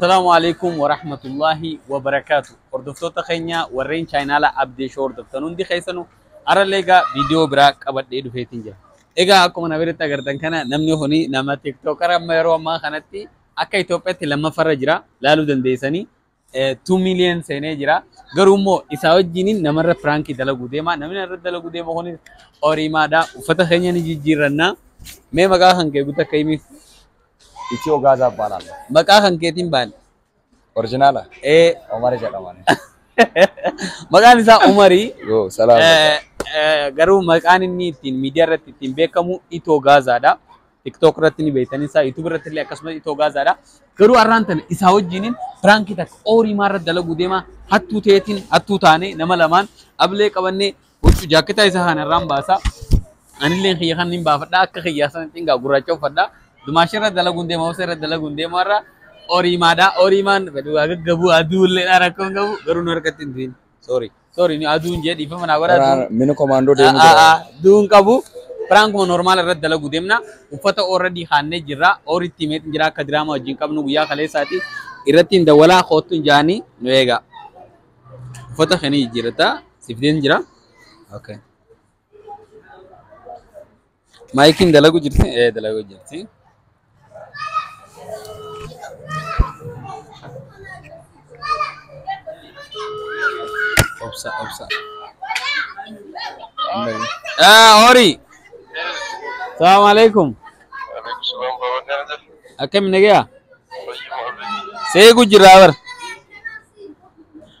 Salaamu alaikum wa rahmatullahi wa barakaatu. Hordoftoota keenya warreen chaayinaala Abdee Shoo hordoftan hundi keessanu har'allee egaa viidiyoo biraa qabadhee dhufeetiin jira. Egaa akkuma na biratti agartan kana namni kuni nama tiktookara amma yeroo ammaa kanatti akka Itoophiyaatti lammaffarra jira laaluu dandeessanii 2 million seenee jira. Garuu immoo isaa wajjin namarra piraankii dalaguu deema. Namni narra dalaguu deema kunis horiimaadha. Uffata keenya ni jijjiirranna. Mee maqaa kan kee guutuu akka himiif. Ichii Ogaaza Abbaalaan. Maqaa kan keetiin baali. Orjinaala. Ee, Omar jedhaman. maqaan isaa Umarii. Yoo salaam. Eh, eh, Garuu maqaan inni ittiin miidiyaa irratti ittiin beekamu Itoo Gaazaadha. TikTok irratti ni beektan isaa YouTube irratti illee akkasumas itoo gaazaadha. Garuu har'aan tana isaa wajjiniin piraankii takka ooriimaa irratti dalaguu deema hattuu ta'eetiin hattuu taanee nama lamaan ablee qabannee huccuu jaakketaa isaa kana irraan baasa. Anillee kiyya kan hin baafadha akka kiyyaa sana cingaa gurraacha uffadha. Dumaashee irratti dalaguun deema hoosee irratti dalaguun deema irra ooriimaadha ooriimaan gaggabu aduullee rakkoon qabu garuu nu harkatti hin du'in. Sorry. Sorry ni aduun jee dhiifama naa godha. Waraana aduun- mini komaandoo deemuu Ah, ah, jira. ah, Duun qabu. Piraankuma normaal irratti dalagu deemna. Uffata already haannee jirra. Ooritti himeetiin jira akka diraamaa wajjin qabnu guyyaa kaleessaati. Irratti hin dawwalaa koottu hin jaanii nu eegaa. Uffata kana jijjiirrataa siif deem jira. Okay. Maayikiin dalagu jirti? Ee dalagu jirti. Obsa obsa. Ah horii. Salaamu alaikum. Akkami nagayaa? Seequ jira bar.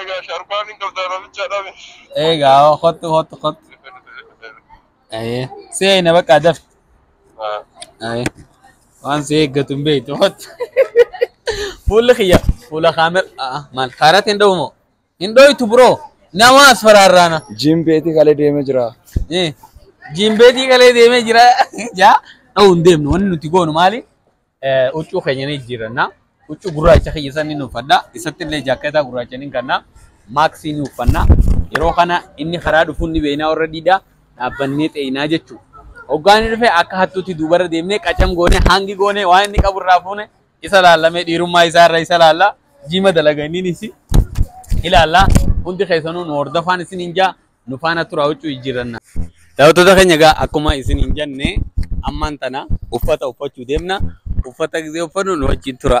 Egaa sharbaan hin qabdaa namicha dhabe. Egaa hottu hottu hottu. Ayee. Si eeyna bakka adaf. Ayee. Waan si eeggatu hin beektu hottu. Fuulli kiyya fuula kaamera maal kaarati hin dhowumoo? Hin dhooytu biroo. Nama as faraarraana. Jiim beetii kalee deemee jira. Jiimbeetii kalee deemee jira. Jaa dha'u hin deemnu. Wanni nuti goonu maali? Huccuu keenya ni jijjiirranna. Huccuu gurraacha kiyya san ni uffadha. Isatti illee jaakkeetaa gurraacha ni kanna. Maaksii ni uffanna. Yeroo kana inni karaa dhufuun ni beeknaa warra diidaa dhaabbannee xeeyinaa jechuudha. Hoggaan dhufe akka hattuutti duubarra deemnee qacam goone hangi goone waan inni qabu irraa fuune isa laallamee dhiirummaa isaa irra isa laalla. Jiima dalaga inni ni ilaalla. Hundi keessanuu nu hordofaan isin hin jaa. nu faana turaa huccuu jijjiirranna. Daawwattoota keenya egaa akkuma isin hin jenne ammaan tana uffata uffachuu deemna. Uffata gisee uffannu nu wajjin tura.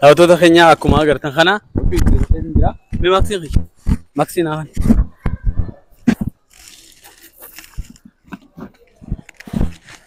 Daawwattoota keenya akkuma agartan kana mee maaksiin kiyya maaksiin haa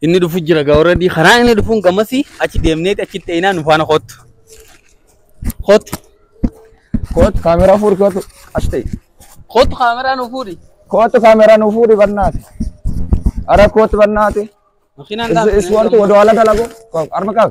Inni dhufu jira gaa warra karaa inni dhufuun gammasii achi deemneeti achi ta'inaa nu faana kootu. Kootu. Kootu kaameraa fuudhi kootu as ta'e. Kootu kaameraa nu fuudhi. Kootu kaameraa nu fuudhi bannaati. Ara kootu bannaati. Makiinaan Is, is want to do ala dalagu. Arma kau.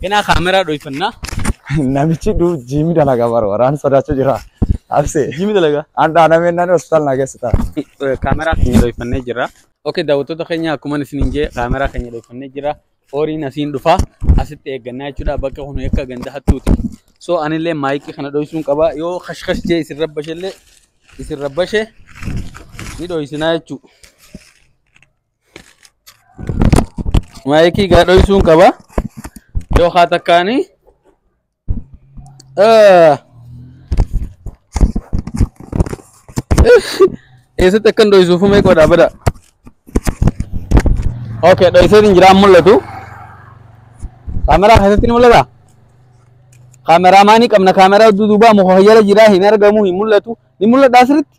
Kenaa kaameraa dhoofannaa. Namichi du jiimi dalaga bara waraan sodaachuu jira. Abse. Jiimi dalaga. Andhaa nameen nani hospitaal naa geessita. Kaameraa keenya dhoofannee jira. Oke daawwattoota keenya akkuma isiniin jee kaameraa keenya dhoofannee jira. Horiin asiin dhufaa asitti eeggannaa jechuudha bakka kun akka ganda hattuuti. So anillee maayikii kana dhoofsuun qaba yoo kashkash jee isin rabbashellee isin rabbashe ni dhoofsinaa jechuudha. maayikii gaa dhoysuun qaba yoo haa takkaanii eessatti akkan dhoysuufu mee qodaa bada ok dhoyseetiin jiraan mul'atu kaameraa keessatti ni mul'ata kaameraa maanii qabna kaameraa duduubaa muka fayyada jiraa hin argamu hin mul'atu ni mul'adhaa sirritti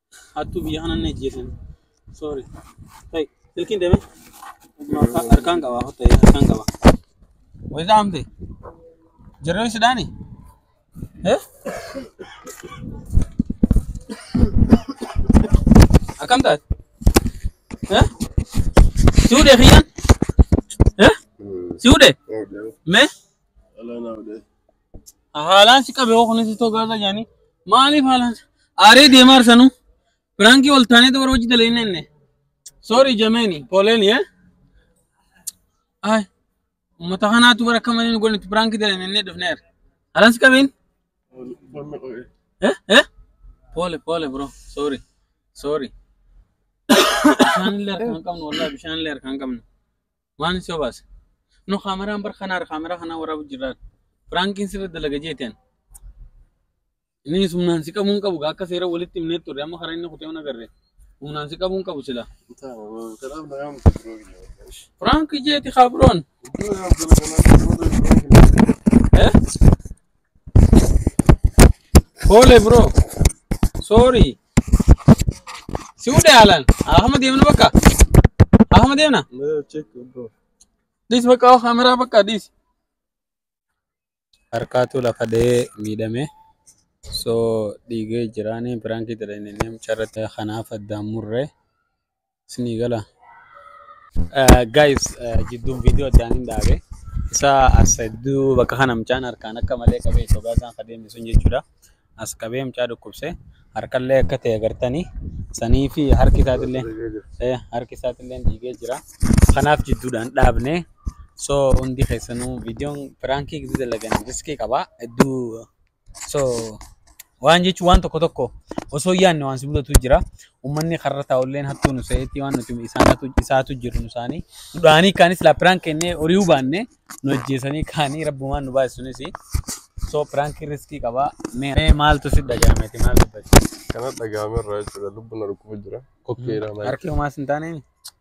Hattuu biyya kanaan ajjeesan. Sorry. Hey, silkiin deeme. Harkaan qaba. Hotta harkaan qaba. Wayita amte. Jarreen sidaani. Eh? Akkam taate? Eh? Si hudhee kiyyaan? Eh? Si hudhee? Mee? Ala na wade. Haalaan si qabe hoo kunis itoo gaaza jaanii. Maaliif haalaan si- aaree deemaa arsanuu. Piraankii ol taanee dubara hojii dalee inni inni. Sorry jameeni pooleeni yee. Ay uummata kanaatu bara akka malee nu godhanitti piraankii dalee inni dhufneera. Haalaan si qabeen. Eh eh. Poole poole bro sorry sorry. Bishaan illee harkaan qabnu wallahi bishaan illee harkaan qabnu. Maalin si obaase? No kaameraan bar kanaar kaameraa kanaa waraabu jirraan. Firaankiin sirri dalaga jeeteen. Inni humnaan si qabuun qabu akka seera walitti himnee turre amma karaa inni kutee hona garre. Humnaan si qabuun qabu sila. Firaanki jeeti kaabroon. Eh? Hoole bro. Sorry. Si fuudhe haalaan. Ahama deemna bakka. Ahama deemna. Mira, check, bro. Dhis bakka oo kaameraa bakka dhis. Harkaatu lafa dha'ee miidhame. So dhiigee jiraanii biraankii jedhanii mucharratti kanaaf addaan murre. isinii gala. Guys jidduun viidiyoo addaan hin dhaabe. Isa as hedduu bakka kana mucaan harkaan akka malee qabee sogaa isaan ka deemne sun jechuudha. As qabee mucaa dhukkubse harkallee akka ta'e agartanii sanii fi harki isaatillee eh, harki isaatillee dhiigee jira. Kanaaf jidduudhaan dhaabne. So hundi keessanuu viidiyoon piraankii gidduu dalagan riskii qaba. Hedduu So waan jechuun waan tokko tokko osoo hin yaadne waan si mudatu jira. Uummanni karra taa'ulleen hattuu nu se'etti waan nuti isaan hatu isaatu jiru nu isaanii. Nu dhahanii kaanis laa piraan kennee horii hubaanne nu ajjeesanii kaanii rabbumaan nu baasisunis. So piraanki riskii qaba. Mee mee maaltu si dhagahameti maal dubbachuu? Kana dhagahamerraa jechuudha lubbuun na dhukkuba jira. Kokkeedha maal? Harki homaas hin taaneen?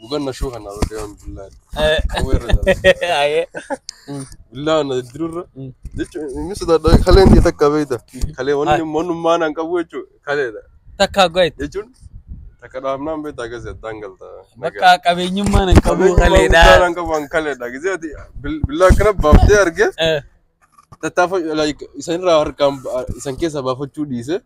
Guban na shuka na wata yawan billahi. Kuma irra jala. Ayee. Billahi na dirurra. Mm. Jechuun inni sodaadha kaleen ta'e takka beekta. Kalee wanni mannummaa naan qabu jechuun kaleedha. Takka goit. Jechuun takka dhaabnaan beekta akkasii addaan galta. Bakka qabeenyummaan hin qabu Qabeenyummaa guddaa kaleedha. naan qabu an kaleedha. Gisee ati bil- billaa akkana baaftee argee Eh. tattaafa like, isan irraa harkaan ba- isan keessaa baafachuu dhiise.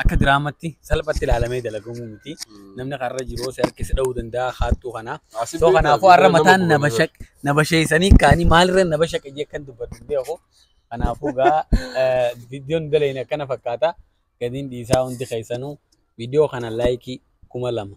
akka diraamatti salphatti ilaalamee dalagamu miti. Namni karra jiru si harkisi dha'uu danda'a haattuu kana. Soo kanaafuu har'a mataan na basheessanii kaanii maalirra na bashaqe jee kan dubbatu hin beeku. Kanaafuu gaa viidiyoon daleen akkana fakkaata. Gadiin dhiisaa hundi keessanuu viidiyoo kana laayikii kuma lama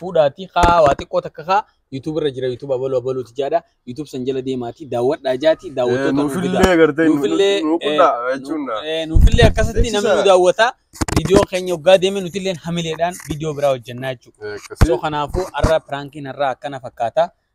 fuudhaatii kaa waa xiqqoo takka kaa YouTube irra jira YouTube abaluu abaluuti jaadha YouTube san jala deemaatii daawwadhaa jaati daawwattoota nuu fidaa. Nuufillee gartee Nuufillee, nuu qunna jechuun na. Eh, Nuufillee akkasitti Beeksisa. namni nu daawwata viidiyoo keenya hoggaa deeme nutillee hamileedhaan viidiyoo biraa hojjannaa jechuudha. So Akkasii. kanaafuu har'a piraankiin har'aa akkana fakkaata.